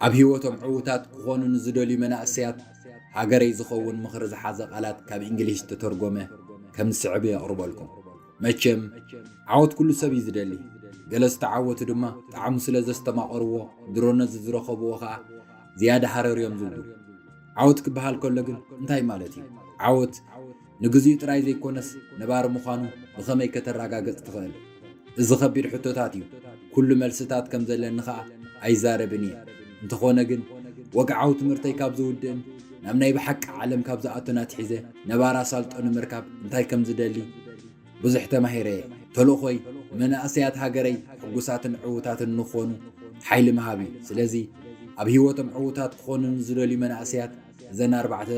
ኣብ ህይወቶም ዕዉታት ክኾኑ ንዝደልዩ መናእሰያት ሃገረይ ዝኸውን ምኽሪ ዝሓዘ ቃላት ካብ እንግሊሽ ዝተተርጎመ ከም ዝስዕብ የቕርበልኩም። መቸም ዓወት ኩሉ ሰብ እዩ ዝደሊ ገለ ዝተዓወቱ ድማ ጣዕሙ ስለ ዘስተማቐርዎ ድሮ ነዚ ዝረኸብዎ ኸኣ ዝያዳ ሃረር እዮም ዝብሉ ዓወት ክበሃል ከሎ ግን እንታይ ማለት እዩ ዓወት ንግዚኡ ጥራይ ዘይኮነስ ነባሪ ምዃኑ ብኸመይ ከተረጋገጽ ትኽእል እዚ ኸቢድ ሕቶታት እዩ ኩሉ መልስታት ከም ዘለኒ ኸኣ ኣይዛረብን እየ እንተኾነ ግን ወግዓዊ ትምህርተይ ካብ ዝውድእን ናብ ናይ ብሓቂ ዓለም ካብ ዝኣቱን ኣትሒዘ ነባር ኣሳልጦ ንምርካብ እንታይ ከም ዝደሊ ብዙሕ ተማሂረ እየ። ተልእኾይ ንመናእሰያት ሃገረይ ሕጉሳትን ዕዉታትን ንክኾኑ ሓይሊ ምሃብ እዩ። ስለዚ ኣብ ህይወቶም ዕዉታት ክኾኑ ንዝደልዩ መናእሰያት እዘን ኣርባዕተ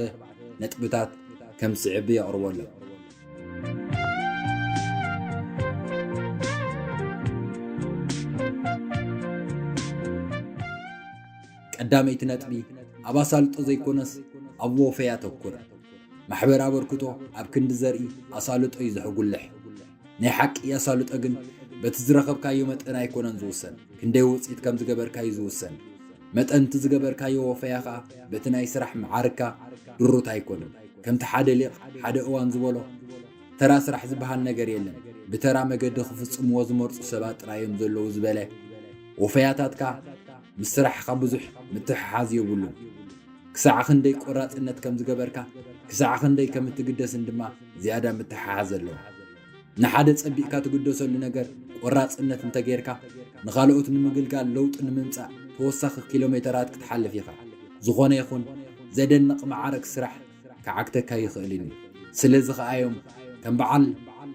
ነጥብታት ከም ዝስዕብ የቕርበሎም። ቀዳመይቲ ነጥቢ ኣብ ኣሳልጦ ዘይኮነስ ኣብ ወፈ ያተኩር ማሕበር ኣበርክቶ ኣብ ክንዲ ዘርኢ ኣሳልጦ እዩ ዘሕጉልሕ ናይ ሓቂ ኣሳልጦ ግን በቲ ዝረኸብካዮ መጠን ኣይኮነን ዝውሰን ክንደይ ውፅኢት ከም ዝገበርካ እዩ ዝውሰን መጠን እቲ ዝገበርካዮ ወፈያ ከኣ በቲ ናይ ስራሕ መዓርግካ ድሩት ኣይኮነን። ከምቲ ሓደ ሊቅ ሓደ እዋን ዝበሎ ተራ ስራሕ ዝበሃል ነገር የለን ብተራ መገዲ ክፍጽምዎ ዝመርጹ ሰባት ጥራይ እዮም ዘለዉ ዝበለ ወፈያታትካ ምስ ስራሕኻ ብዙሕ ምትሕሓዝ የብሉን። ክሳዕ ክንደይ ቆራጽነት ከም ዝገበርካ ክሳዕ ክንደይ ከም እትግደስን ድማ ዝያዳ ምትሕሓዝ ኣለዎ። ንሓደ ጸቢቕካ ትግደሰሉ ነገር ቈራጽነት እንተ ጌርካ፣ ንኻልኦት ንምግልጋል ለውጢ ንምምጻእ ተወሳኺ ኪሎሜተራት ክትሓልፍ ኢኻ። ዝዀነ ይኹን ዘደንቕ መዓርግ ስራሕ ክዓግተካ ኣይኽእልን እዩ። ስለዚ ኸኣ እዮም ከም በዓል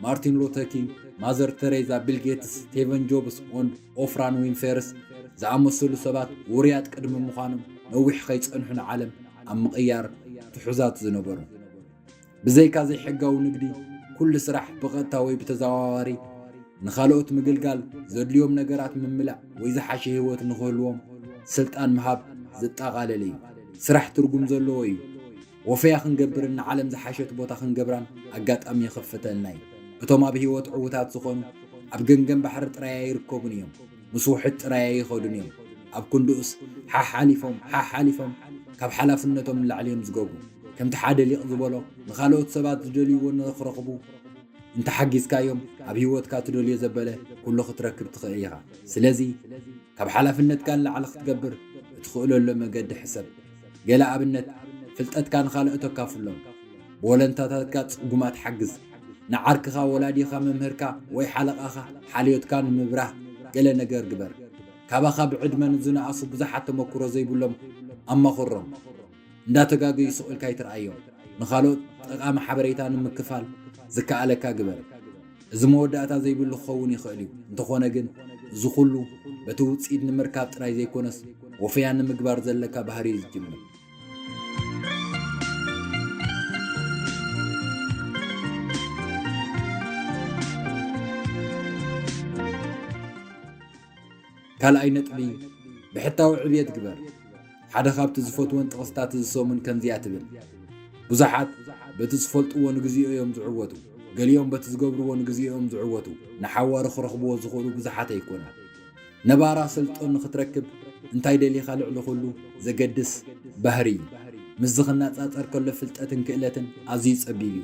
ማርቲን ሉተር ኪንግ፣ ማዘር ተሬዛ፣ ቢል ጌትስ፣ ስቴቨን ጆብስ፣ ኦንድ ኦፍራን ዊንፌርስ ዝኣመሰሉ ሰባት ውሩያት ቅድሚ ምዃኖም ነዊሕ ከይጸንሑ ንዓለም ኣብ ምቕያር ትሑዛት ዝነበሩ። ብዘይካ ዘይሕጋዊ ንግዲ ኩሉ ስራሕ ብቐጥታ ወይ ብተዘዋዋሪ ንኻልኦት ምግልጋል፣ ዘድልዮም ነገራት ምምላእ ወይ ዝሓሸ ህይወት ንኽህልዎም ስልጣን ምሃብ ዘጠቓለለ እዩ። ስራሕ ትርጉም ዘለዎ እዩ። ወፈያ ክንገብርን ንዓለም ዝሓሸት ቦታ ክንገብራን ኣጋጣሚ ይኽፍተልና እዩ። እቶም ኣብ ህይወት ዕዉታት ዝኾኑ ኣብ ገምገም ባሕሪ ጥራይ ኣይርከቡን እዮም። ምስ ውሕጅ ጥራይ ኣይኸዱን እዮም፣ ኣብ ክንድኡስ ሓሓሊፎም ሓሓሊፎም ካብ ሓላፍነቶም ንላዕሊ እዮም ዝገብሩ። ከምቲ ሓደ ሊቅ ዝበሎ ንኻልኦት ሰባት ዝደልይዎ ንኽረኽቡ እንተሓጊዝካዮም ኣብ ህይወትካ ትደልዮ ዘበለ ኩሉ ክትረክብ ትኽእል ኢኻ። ስለዚ ካብ ሓላፍነትካ ንላዕሊ ክትገብር እትኽእለሉ መገዲ ሕሰብ። ገለ ኣብነት ፍልጠትካ ንኻልኦት ኣካፍሎም። ብወለንታታትካ ጽጉማት ሓግዝ። ንዓርክኻ፣ ወላዲኻ፣ መምህርካ ወይ ሓለቓኻ ሓልዮትካ ንምብራህ ገለ ነገር ግበር። ካባኻ ብዕድመ ንዝነኣሱ ብዙሓት ተመኩሮ ዘይብሎም ኣማኽሮም። እንዳተጋገዩ ስቕ ኢልካ ኣይትርኣዮም። ንኻልኦት ጠቓሚ ሓበሬታ ንምክፋል ዝከኣለካ ግበር። እዚ መወዳእታ ዘይብሉ ክኸውን ይኽእል እዩ፣ እንተኾነ ግን እዚ ኩሉ በቲ ውጽኢት ንምርካብ ጥራይ ዘይኮነስ ወፈያ ንምግባር ዘለካ ባህሪ እዩ ዝጅምር። ካልኣይ ነጥቢ ብሕታዊ ዕብየት ግበር። ሓደ ካብቲ ዝፈትወን ጥቕስታት እዚ ሰሙን ከምዚኣ ትብል፣ ብዙሓት በቲ ዝፈልጥዎ ንግዜኡ እዮም ዝዕወቱ፣ ገሊኦም በቲ ዝገብርዎ ንግዜኡ እዮም ዝዕወቱ፣ ንሓዋሩ ክረኽብዎ ዝኽእሉ ብዙሓት ኣይኮኑን። ነባራ ስልጡን ንኽትረክብ እንታይ ደሊኻ ልዕሊ ኹሉ ዘገድስ ባህሪ እዩ። ምስዚ ክነጻጸር ከሎ ፍልጠትን ክእለትን ኣዝዩ ጸቢብ እዩ።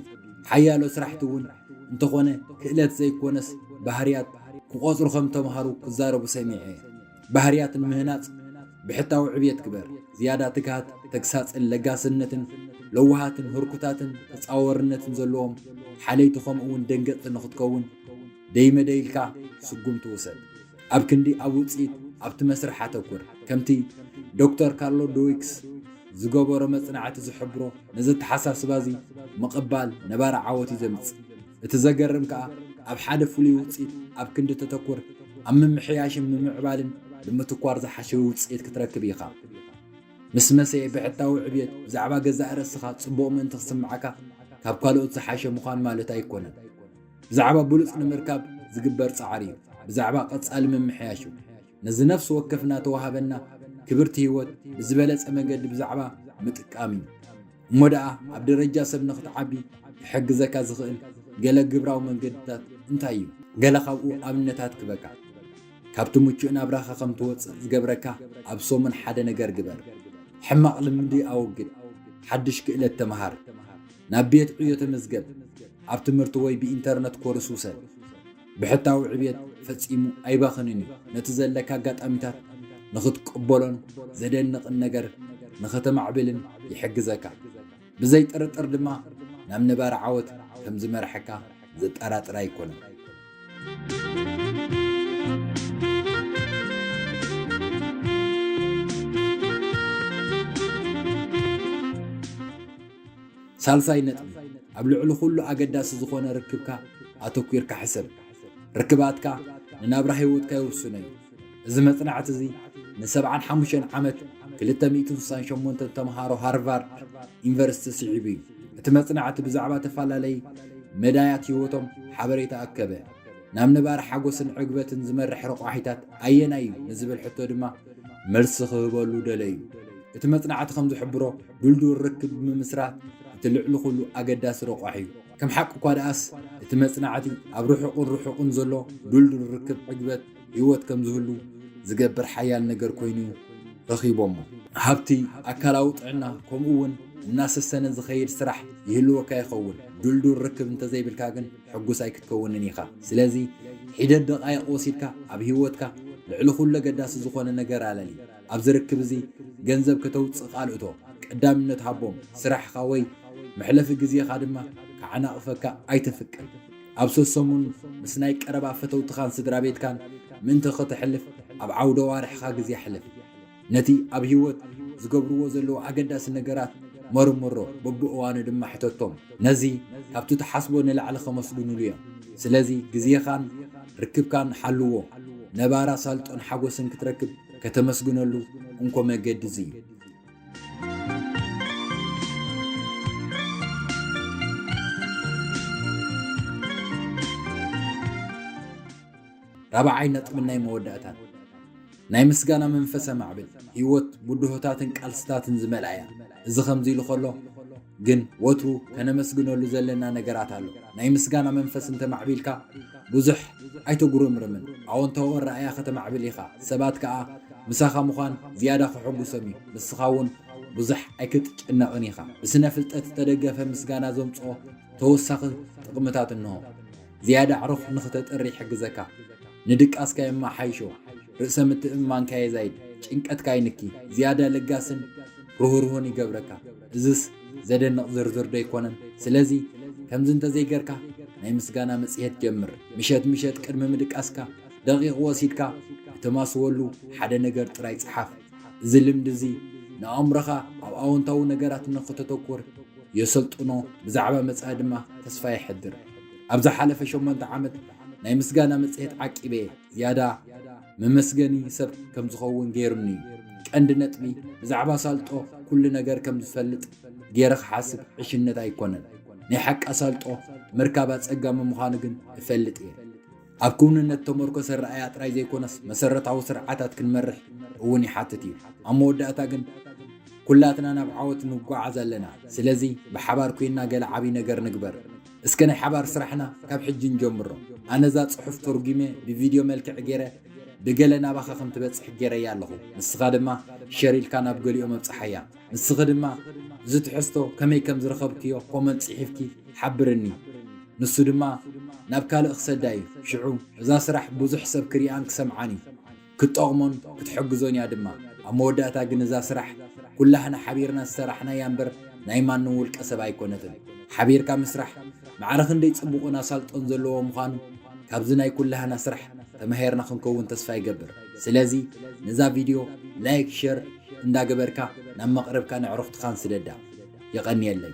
ሓያሎ ስራሕቲ እውን እንተኾነ ክእለት ዘይኮነስ ባህርያት ክቆጽሩ ከም ተምሃሩ ክዛረቡ ሰሚዐ እየ። ባህርያት ንምህናጽ ብሕታዊ ዕብየት ግበር፣ ዝያዳ ትግሃት፣ ተግሳጽን ለጋስነትን፣ ለዋሃትን ህርኩታትን ተጻዋርነትን ዘለዎም ሓለይቲ ከምኡ'ውን ደንገጽቲ ንኽትከውን ደይመደይ ኢልካ ስጉምቲ ውሰድ። ኣብ ክንዲ ኣብ ውጽኢት ኣብቲ መስርሕ ኣተኩር። ከምቲ ዶክተር ካርሎ ድዊክስ ዝገበሮ መጽናዕቲ ዝሕብሮ ነዚ ኣተሓሳስባ እዚ ምቕባል ነባሪ ዓወት እዩ ዘምጽእ። እቲ ዘገርም ከኣ ኣብ ሓደ ፍሉይ ውጽኢት ኣብ ክንዲ ተተኩር ኣብ ምምሕያሽን ምምዕባልን ብምትኳር ዝሓሸ ውጽኢት ክትረክብ ኢኻ። ምስ መሰ ብሕታዊ ዕብየት ብዛዕባ ገዛእ ርእስኻ ጽቡቕ ምእንቲ ክስምዓካ ካብ ካልኦት ዝሓሸ ምዃን ማለት ኣይኮነን። ብዛዕባ ብሉጽ ንምርካብ ዝግበር ጻዕሪ እዩ። ብዛዕባ ቀጻሊ ምምሕያሽ እዩ። ነዚ ነፍሲ ወከፍና ተዋሃበና ክብርቲ ህይወት ብዝበለጸ መገዲ ብዛዕባ ምጥቃም እዩ። እሞ ደኣ ኣብ ደረጃ ሰብ ንኽትዓቢ ክሕግዘካ ዝኽእል ገለ ግብራዊ መንገድታት እንታይ እዩ? ገለ ካብኡ ኣብነታት ክበካ። ካብቲ ምቹእ ናብራኻ ከም ትወጽእ ዝገብረካ ኣብ ሰሙን ሓደ ነገር ግበር። ሕማቕ ልምዲ ኣወግድ። ሓድሽ ክእለት ተመሃር። ናብ ቤት ዕዮ ተመዝገብ፣ ኣብ ትምህርቲ ወይ ብኢንተርነት ኮርስ ውሰድ። ብሕታዊ ዕብየት ፈጺሙ ኣይባኽንን እዩ፣ ነቲ ዘለካ ኣጋጣሚታት ንኽትቅበሎን ዘደንቕን ነገር ንኸተማዕብልን ይሕግዘካ። ብዘይ ጥርጥር ድማ ናብ ነባሪ ዓወት ከም ዝመርሐካ ዘጠራጥር ኣይኮነን። ሳልሳይ ነጥቢ፣ ኣብ ልዕሊ ኹሉ ኣገዳሲ ዝኾነ ርክብካ ኣተኲርካ ሕሰብ። ርክባትካ ንናብራ ህይወትካ ይውስኖ እዩ። እዚ መጽናዕቲ እዚ ንሰብዓን ሓሙሽተን ዓመት ክልተ ሚእትን ስሳን ሸሞንተን ተምሃሮ ሃርቫርድ ዩኒቨርሲቲ ስዒቡ እዩ። እቲ መጽናዕቲ ብዛዕባ ተፈላለይ መዳያት ህይወቶም ሓበሬታ ኣከበ። ናብ ነባሪ ሓጎስን ዕግበትን ዝመርሕ ረቋሒታት ኣየናይ እዩ ንዝብል ሕቶ ድማ መልሲ ክህበሉ ደለዩ። እቲ መጽናዕቲ ከም ዝሕብሮ፣ ድልዱል ርክብ ብምምስራት እቲ ልዕሊ ኹሉ ኣገዳሲ ረቋሒ እዩ። ከም ሓቂ እኳ ደኣስ፣ እቲ መጽናዕቲ ኣብ ርሑቕን ርሑቕን ዘሎ ድልዱል ርክብ ዕግበት ህይወት ከም ዝህሉ ዝገብር ሓያል ነገር ኰይኑ ረኺቦሞ። ሃብቲ፣ ኣካላዊ ጥዕና፣ ከምኡ'ውን እናሰሰነ ዝኸይድ ስራሕ ይህልወካ ይኸውን፣ ድልዱል ርክብ እንተ ዘይብልካ ግን ሕጉስ ኣይክትከውንን ኢኻ። ስለዚ፣ ሒደት ደቓይቕ ወሲድካ ኣብ ህይወትካ ልዕሊ ኹሉ ኣገዳሲ ዝዀነ ነገር ኣለሊ። ኣብዚ ርክብ እዚ ገንዘብ ከተውጽእ ካልእቶ ቀዳምነት ሃቦም፣ ስራሕኻ ወይ መሕለፊ ግዜኻ ድማ ክዓናቕፈካ ኣይተፍቅድ። ኣብ ሰሰሙን ምስ ናይ ቀረባ ፈተውትኻን ስድራቤትካን ምእንቲ ከተሕልፍ ኣብ ዓውደ ኣዋርሕኻ ግዜ ኣሕልፍ። ነቲ ኣብ ህይወት ዝገብርዎ ዘለዉ ኣገዳሲ ነገራት መርምሮ፣ በብእዋኑ ድማ ሕተቶም። ነዚ ካብቲ ትሓስቦ ንላዕሊ ከመስግኑሉ እዮም። ስለዚ ግዜኻን ርክብካን ሓልዎ፣ ነባሪ ኣሳልጦን ሓጐስን ክትረክብ ከተመስግነሉ እንኮ መገዲ እዚ እዩ። ራብዓይ ነጥብን ናይ መወዳእታን ናይ ምስጋና መንፈሰ ማዕብል ህይወት ብድሆታትን ቃልስታትን ዝመልኣ እያ። እዚ ከምዚ ኢሉ ከሎ ግን ወትሩ ከነመስግነሉ ዘለና ነገራት ኣሎ። ናይ ምስጋና መንፈስ እንተማዕቢልካ ብዙሕ ኣይተጉርምርምን። ኣወንታዊ ኣረኣእያ ከተማዕብል ኢኻ፣ ሰባት ከኣ ምሳኻ ምዃን ዝያዳ ከሐጉሶም እዩ። ንስኻ እውን ብዙሕ ኣይክትጭነቕን ኢኻ። ብስነ ፍልጠት ዝተደገፈ ምስጋና ዘምጽኦ ተወሳኺ ጥቕምታት እንሆ። ዝያዳ ኣዕሩኽ ንኽተጥሪ ይሕግዘካ። ንድቃስካ የመሓይሾ። ርእሰ ምትእምማንካ የዛይድ። ጭንቀትካ ይንኪ። ዝያዳ ለጋስን ርህሩህን ይገብረካ። እዝስ ዘደንቕ ዝርዝር ዶ ኣይኮነን? ስለዚ ከምዚ እንተዘይገርካ ናይ ምስጋና መጽሔት ጀምር። ምሸት ምሸት ቅድሚ ምድቃስካ ደቒቕ ወሲድካ እተማስወሉ ሓደ ነገር ጥራይ ጽሓፍ። እዚ ልምዲ እዚ ንኣእምሮኻ ኣብ ኣወንታዊ ነገራት ንኽተተኩር የሰልጥኖ፣ ብዛዕባ መጻኢ ድማ ተስፋ የሕድር። ኣብ ዝሓለፈ ሸሞንተ ዓመት ናይ ምስጋና መጽሔት ዓቂበ'የ፣ ዝያዳ። መመስገኒ ሰብ ከም ዝኸውን ገይሩኒ እዩ። ቀንዲ ነጥቢ ብዛዕባ ኣሳልጦ ኩሉ ነገር ከም ዝፈልጥ ገይረ ክሓስብ ዕሽነት ኣይኮነን። ናይ ሓቂ ኣሳልጦ ምርካብ ኣጸጋሚ ምዃኑ ግን እፈልጥ እየ። ኣብ ክውንነት ተመርኮሰ ኣረኣእያ ጥራይ ዘይኮነስ መሰረታዊ ስርዓታት ክንመርሕ እውን ይሓትት እዩ። ኣብ መወዳእታ ግን ኩላትና ናብ ዓወት ንጓዓዝ ኣለና። ስለዚ ብሓባር ኮይና ገለ ዓብዪ ነገር ንግበር። እስከ ናይ ሓባር ስራሕና ካብ ሕጂ ንጀምሮ። ኣነ እዛ ጽሑፍ ተርጒመ ብቪድዮ መልክዕ ጌረ ብገለ ናባኻ ከም ትበጽሕ ጌረያ ኣለኹ። ንስኻ ድማ ሸር ኢልካ ናብ ገሊኦም ኣብጽሓያ። ንስኺ ድማ እዚ ትሕዝቶ ከመይ ከም ዝረኸብክዮ ኮመንት ጽሒፍኪ ሓብርኒ። ንሱ ድማ ናብ ካልእ ክሰዳ እዩ። ሽዑ እዛ ስራሕ ብዙሕ ሰብ ክሪኣን ክሰምዓን እዩ። ክትጠቕሞን ክትሕግዞን እያ ድማ። ኣብ መወዳእታ ግን እዛ ስራሕ ኩላህና ሓቢርና ዝሰራሕናያ እምበር ናይ ማንም ውልቀ ሰብ ኣይኮነትን። ሓቢርካ ምስራሕ ማዕረ ክንደይ ጽቡቕን ኣሳልጦን ዘለዎ ምዃኑ ካብዚ ናይ ኩላህና ስራሕ ተማሂርና ክንከውን ተስፋ ይገብር። ስለዚ ነዛ ቪድዮ ላይክ ሸር እንዳ ገበርካ ናብ መቕርብካን ኣዕሩኽትኻን ስደዳ። የቐንየለይ።